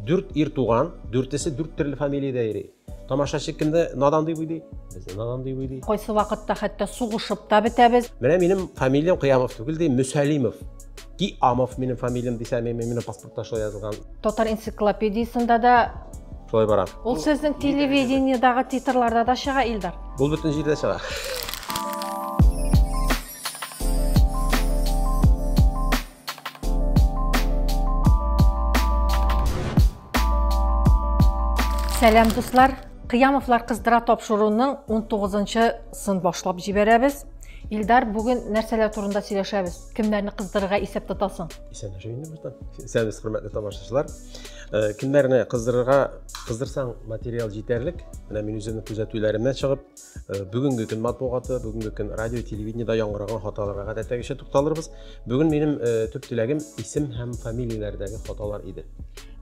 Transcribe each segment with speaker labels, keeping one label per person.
Speaker 1: Дүрт ир туган, дүртесе дүрт төрле фамилиядә йөри. Тамашачы кемне надан дип уйлый? Безне надан дип уйлый. Кайсы вакытта хәтта сугышып та бетәбез. Менә минем фамилиям Кыямов түгел ди, Мөсәлимов. Ки Амов минем фамилиям дисә, мен минем паспортта шулай язылган. Татар энциклопедиясендә дә Шулай бара. Ул сезнең телевидениедагы титрларда да чыга, Илдар. Ул бөтен җирдә чыга. Сәлам дуслар! Кыямовлар кыздыра тапшыруның 19-нчы сын башлап җибәрәбез. Илдар, бүген нәрсәләр турында сөйләшәбез? Кемнәрне кыздырырга исәп тотасың? Исәнләшә инде башта. Исәнбез, хөрмәтле тамашачылар. Э, кемнәрне кыздырырга кыздырсаң материал җитәрлек. Менә мин үземнең күзәтүләремнән чыгып, Э, бүгінгі күн матбугаты бүгінгі күн радио телевидениеда яңгыраган хаталарга гадәттәгечә тукталырбыз бүгін менің э, төп теләгім исем һәм фамилияләрдәге хаталар иде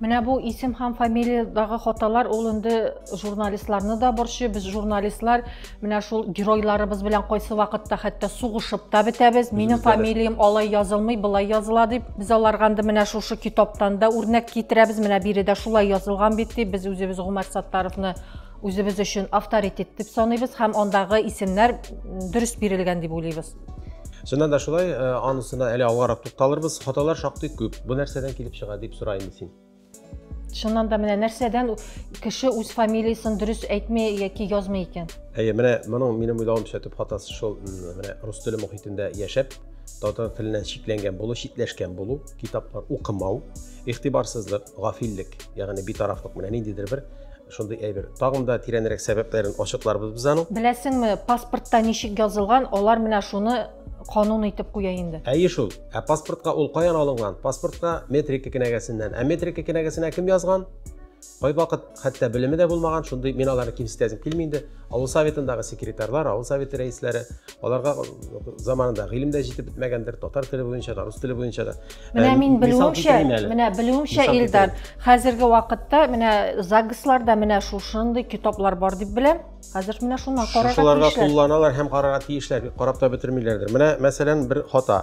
Speaker 1: менә бу исем һәм фамилиядагы хаталар ул инде журналистларны да борчый без журналистлар менә шул геройларыбыз белән кайсы вакытта хәтта сугышып та бетәбез минем фамилиям алай язылмый былай языла дип без аларга инде менә шушы китаптан да үрнәк китерәбез менә биредә шулай язылган бит дип без үзебез гомәр саттаровны үзебез өчен авторитет дип саныйбыз һәм андагы исемнәр дөрес бирелгән дип уйлыйбыз чыннан да шулай э, анысына әле алгарак тукталырбыз хаталар шактый күп бу нәрсәдән килеп чыга дип сора инде син чыннан да менә нәрсәдән кеше үз фамилиясын дөрес әйтми яки язмый икән әйе менә моның минем уйлавымча төп хатасы шул менә рус теле мохитендә яшәп татар теленнән шикләнгән булу читләшкән булу китаплар укымау игътибарсызлык гафиллек ягъни битарафлык менә ниндидер бер Шундый әйбер. Тагын да тирәнрәк сәбәпләрен ачыкларбыз без аның. Беләсеңме, паспортта ничек язылган, алар менә шуны канун итеп куя инде. Әйе шул. Ә паспортка ул каян алынган? Паспортка метрика кенәгәсеннән. Ә метрика кенәгәсенә кем язган? Кайвакыт хәтта белеме дә булмаган, шундый мин аларны кимсетәсем килми инде. Авыл советындагы секретарьлар, авыл советы рәисләре, аларга заманында гыйлем дә җитеп бетмәгәндер татар теле буенча да рус теле буенча да менә ә, мин белүемчә менә белүемчә илдар хәзерге вакытта менә загсларда менә шушындый китаплар бар дип беләм хәзер менә шуны карарга шушыларга кулланалар һәм карарга тиешләр карап та бетермиләрдер менә мәсәлән бер хата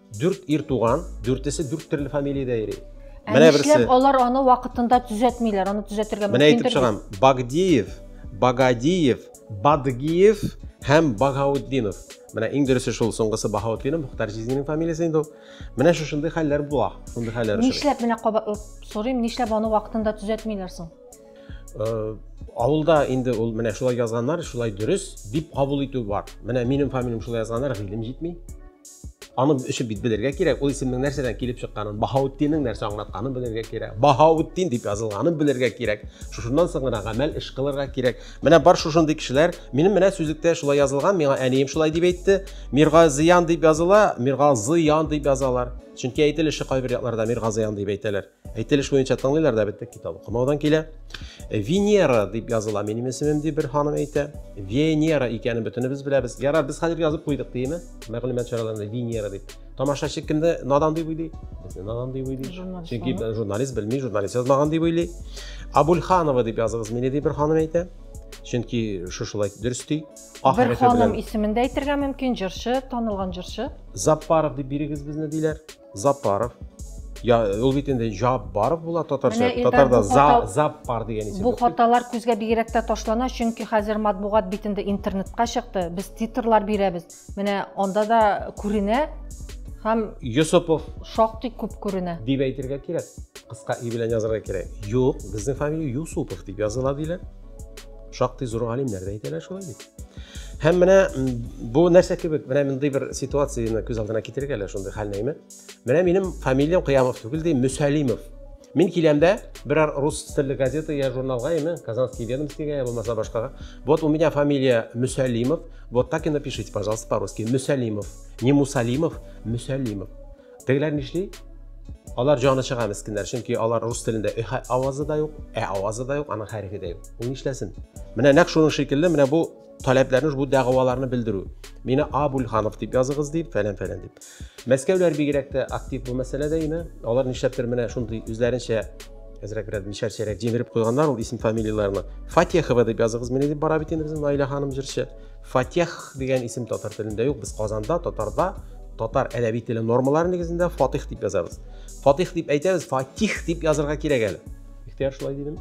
Speaker 1: Дүрт ир туган, дүртесе дүрт төрле фамилиядә йөри. Ә Менә берсе. Нишләп алар аны вакытында төзәтмиләр? Аны төзәтергә мөмкин. Менә әйтеп чыгам. Багдиев, Багадиев, Бадгиев һәм Багаутдинов. Менә иң дөресе шул, соңгысы Баһаутдинов, Мөхтар Җизнинең фамилиясе инде ул. Менә шушындый хәлләр була, шундый хәлләр өчен. Нишләп менә кабатлап сорыйм, нишләп аны вакытында төзәтмиләр соң? Э, авылда инде ул менә шулай язганнар шулай дөрес дип кабул итү бар менә минем фамилиям шулай язганнар гыйлем җитми аны өчен бит белергә кирәк ул исемнең нәрсәдән килеп чыкканын баһаутдиннең нәрсә аңлатканын белергә кирәк баһаутдин дип язылганын белергә кирәк шушыннан соң гына гамәл эш кылырга кирәк менә бар шушындый кешеләр минем менә сүзлектә шулай язылган миңа әнием шулай дип әйтте мирга зыян дип языла мирга зыян дип язалар чөнки әйтелеше кайбер якларда мирга зыян дип әйтәләр Әйтелеш буенча тыңлыйлар да беттек китап укымаудан килә. Э, Венера дип языла минем исемем дип бер ханым әйтә. Венера икәнен бөтенебез беләбез. Яра без хәзер язып куйдык димме? Мәгълүмат чараларында Венера дип. Тамашачы кемне надан дип уйлый? Безне надан дип уйлый. Чөнки журналист белми, журналист язмаган дип уйлый. Абульханова дип языгыз мине дип бер ханым әйтә. Чөнки шушылай дөрес ди. Бер ханым исемендә әйтергә мөмкин, җырчы, танылган җырчы. Запаров дип бирегез безне диләр. Запаров. Я, ул бит инде Жаббаров була татарча. Татарда за, Заппар дигән исем. Бу хаталар күзгә бигрәк тә ташлана, чөнки хәзер матбугат битендә интернетка чыкты. Без титрлар бирәбез. Менә анда да күренә һәм Йосыпов шактый күп күренә. Дип әйтергә кирәк. Кыска и белән язарга кирәк. Юк, безнең фамилия Юсупов дип языла диләр. Шактый зур галимнәр дә әйтәләр шулай бит. Һәм менә бу нәрсә кебек, менә мондый бер ситуацияне күз алдына китерик әле шундый хәл нәйме. Менә минем фамилиям Кыямов түгел ди, Мөсәлимов. Мин киләмдә берәр рус телле газета я журналга яме, Казанский ведомостига я булмаса башкага. Вот у меня фамилия Мөсәлимов. Вот так и напишите, пожалуйста, по-русски. Мөсәлимов. Не Мусалимов, Мөсәлимов. Тегеләр нишли? Алар җаны чыга мескеннәр, чөнки алар рус телендә э авазы да юк, ә авазы да юк, аның хәрефе дә юк. Ул нишләсен? Менә нәкъ шуның шикелле, менә бу таләпләрне, бу дәгъваларны белдерү. Мине Абульханов дип языгыз дип, фәлән фәлән дип. Мәскәүләр бигрәк тә актив бу мәсьәләдә име? Алар нишләптер менә шундый үзләренчә әзрәк бераз мишәрчәрәк җимереп куйганнар ул исем фамилияләрне. Фатехова дип языгыз мине дип бара бит инде безнең Наилә ханым җырчы. Фатех дигән исем татар телендә юк. Без Казанда, татарда татар әдәби теле нормалары нигезендә Фатих дип язабыз. Фатих дип әйтәбез, Фатих дип язырга кирәк әле. Ихтияр шулай дидем.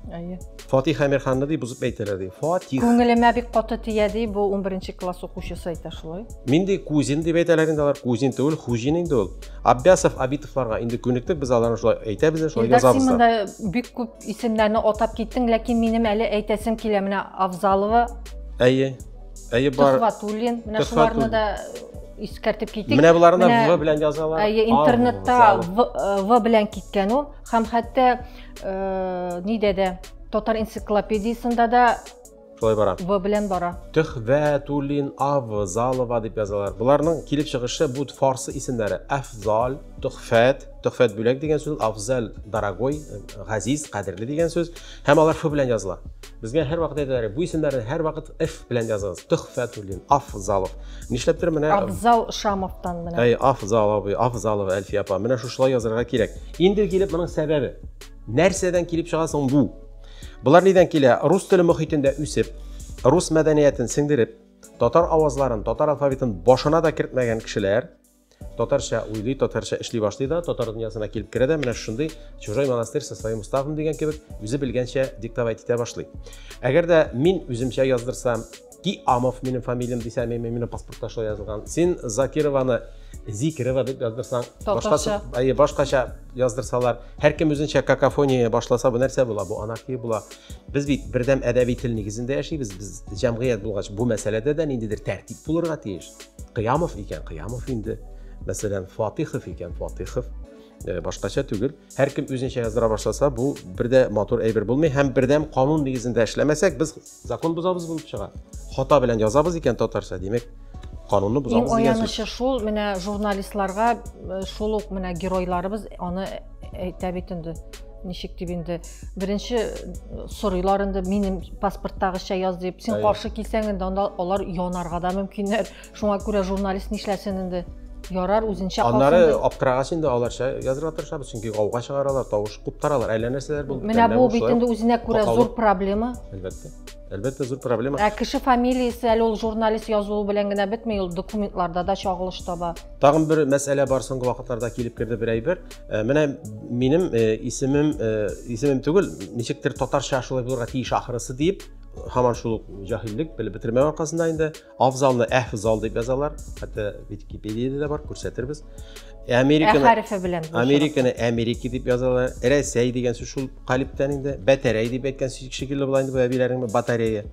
Speaker 1: Әйе. Фатих Әмирханны дип бузып әйтәләр ди. Фатих. Күңелемә бик каты тия ди, бу 11 класс укучысы әйтә шулай. Мин ди кузин дип әйтәләр инде алар, кузин түгел, хуҗин инде ул. Аббясов, Абитовларга инде күнектек, без аларны шулай әйтәбез, шулай язабыз. Син монда бик күп Исемнәрне атап киттең, ләкин минем әле әйтәсем килә. Менә Авзалова. Әйе. Әйе бар. Төхватуллин. Менә шуларны да искәртеп китик. Менә боларны да В белән язалар. Әйе, интернетта В э, белән киткән ул. Һәм хәтта э, нидә дә татар энциклопедиясендә дә Шулай бара. В белән бара. Төхвә, Тулин, Ав, Залова дип язалар. Боларның килеп чыгышы бу фарсы исемнәре. Афзал, Төхфәт, Төхфәт бүләк дигән сүз, Афзал дорогой, газиз, кадерле дигән сүз. Һәм алар ф белән языла. Безгә һәр вакыт әйтәләр, бу исемнәрне һәр вакыт ф белән языгыз. Төхфә, Тулин, Афзалов. Нишләптер менә Афзал Шамовтан менә. Әй, Афзалов, Афзалов Әлфия апа. Менә шушылай язырга кирәк. Инде килеп моның сәбәбе. Нәрсәдән килеп чыга соң бу? Болар нидән килә? Рус теле мөхитендә үсеп, рус мәдәниятен сеңдереп, татар авазларын, татар алфавитын башына да кертмәгән кешеләр татарча уйлый, татарча эшли башлый да, татар дөньясына килеп керә дә, менә шундый чужой монастырь со своим уставом дигән кебек, үзе белгәнчә диктовать итә башлый. Әгәр дә мин үземчә яздырсам, Ки Амов минем фамилиям дисәм, мин минем паспортта шулай язылган. Син Закированы Зикирова дип яздырсаң, башкача, әйе, башкача яздырсалар, һәркем үзенчә какофония башласа, бу нәрсә була? Бу анархия була. Без бит бердәм әдәби тел нигезендә яшибез. Без җәмгыять булгач, бу мәсьәләдә дә ниндидер тәртип булырга тиеш. Кыямов икән, Кыямов инде. Мәсәлән, Фатихов икән, Фатихов. Э, башкача түгел һәркем үзенчә яздыра башласа бу бер дә матур әйбер булмый һәм бердәм канун нигезендә эшләмәсәк без Закон бозабыз булып чыга. Хата белән язабыз икән татарча, димәк, канунны бозабыз дигән сүз. Иң аянышы шул, менә журналистларга э, шул ук менә геройларыбыз аны әйтә бит инде ничек дип инде беренче э, сорыйлар инде минем паспорттагыча яз дип син каршы килсәң инде анда алар янарга да мөмкиннәр Шуңа күрә журналист нишләсен инде? Ярар, үзенчә калсын. Аннары аптырагач инде аларча язырга тырышабыз, чөнки гауга чыгаралар, тавыш куптаралар, әллә нәрсәләр булып Менә бу бит инде үзенә күрә зур проблема. Әлбәттә. Әлбәттә зур проблема. Ә кеше фамилиясе әле ул журналист язуы белән генә бетми, ул документларда да чагылыш таба. Тагын бер мәсьәлә бар соңгы вакытларда килеп керде бер әйбер. Э, менә минем э, исемем э, исемем түгел, ничектер татарча шулай булырга тиеш ахрысы дип, һаман шул җаһиллек белеп бетермәү аркасында инде Афзалны әфзал дип язалар. Хәтта Википедиядә дә бар, күрсәтербез. Американы хәрефе белән. Американы Америки дип язалар. Рәсәй дигән сүз шул калиптән инде. Бәтәрәй дип әйткән шикелле була инде бу әбиләрнең батарея.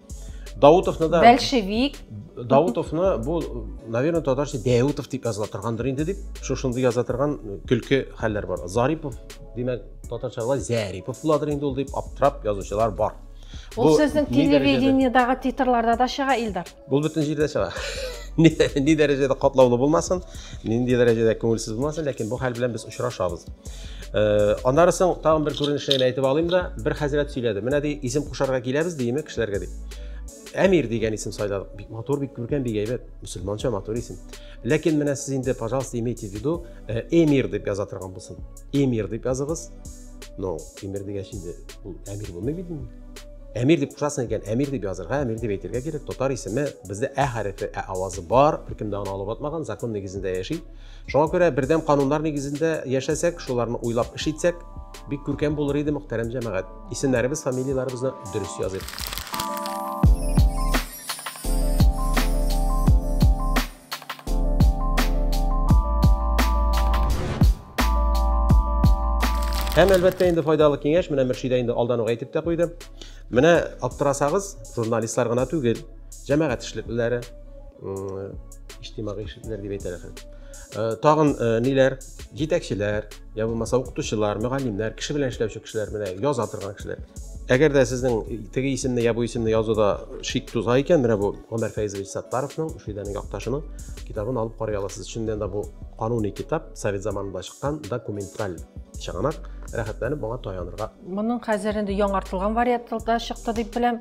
Speaker 1: Даутовны да Большевик. Даутовны бу, наверное, татарча Даутов дип языла торгандыр инде дип, шушындый яза торган көлке хәлләр бар. Зарипов, димәк, татарча була Зарипов буладыр инде ул дип аптырап язучылар бар. Ул сезнең телевидениедагы титрларда да чыга, Илдар. Бул бөтен җирдә чыга. Ни дәрәҗәдә катлаулы булмасын, нинди дәрәҗәдә күңелсез булмасын, ләкин бу хәл белән без очрашабыз. Э, аннары соң тагын бер күренешне әйтеп алыйм да, бер хәзрәт сөйләде. Менә ди, исем кушарга киләбез диеме кешеләргә ди. Әмир дигән исем сайладык. Бик матур, бик күркәм, бик әйбәт. Мөселманча матур исем. Ләкин менә сез инде, пожалуйста, имейте в виду, э, Эмир дип яза торган булсын. Эмир дип языгыз. но тимер дигәч инде ул әмир булмый бит инде әмир дип кушасың икән әмир дип язырга әмир дип әйтергә кирәк татар исеме бездә ә хәрефе ә авазы бар беркем дә аны алып атмаган закон нигезендә яши шуңа күрә бердәм кануннар нигезендә яшәсәк шуларны уйлап эш итсәк бик күркәм булыр иде мөхтәрәм җәмәгать исемнәребез фамилияләребезне дөрес языйк Һәм әлбәттә инде файдалы киңәш, менә Мөршидә инде алдан ук әйтеп тә куйды. Менә аптырасагыз, журналистлар гына түгел, җәмәгать эшлеклеләре, иҗтимагый эшлеклеләр дип әйтәләр. Э, тагын э, ниләр? Җитәкчеләр, я булмаса укытучылар мөгаллимнәр кеше белән эшләүче кешеләр менә яза торган кешеләр әгәр дә сезнең теге исемне я бу исемне язуда шик туза икән менә бу гомәр фәйзович саттаровның шидәнең якташының китабын алып карый аласыз чыннан да бу кануни китап совет заманында чыккан документаль чыганак рәхәтләнеп моңа таянырга моның хәзер инде яңартылган вариантында чыкты дип беләм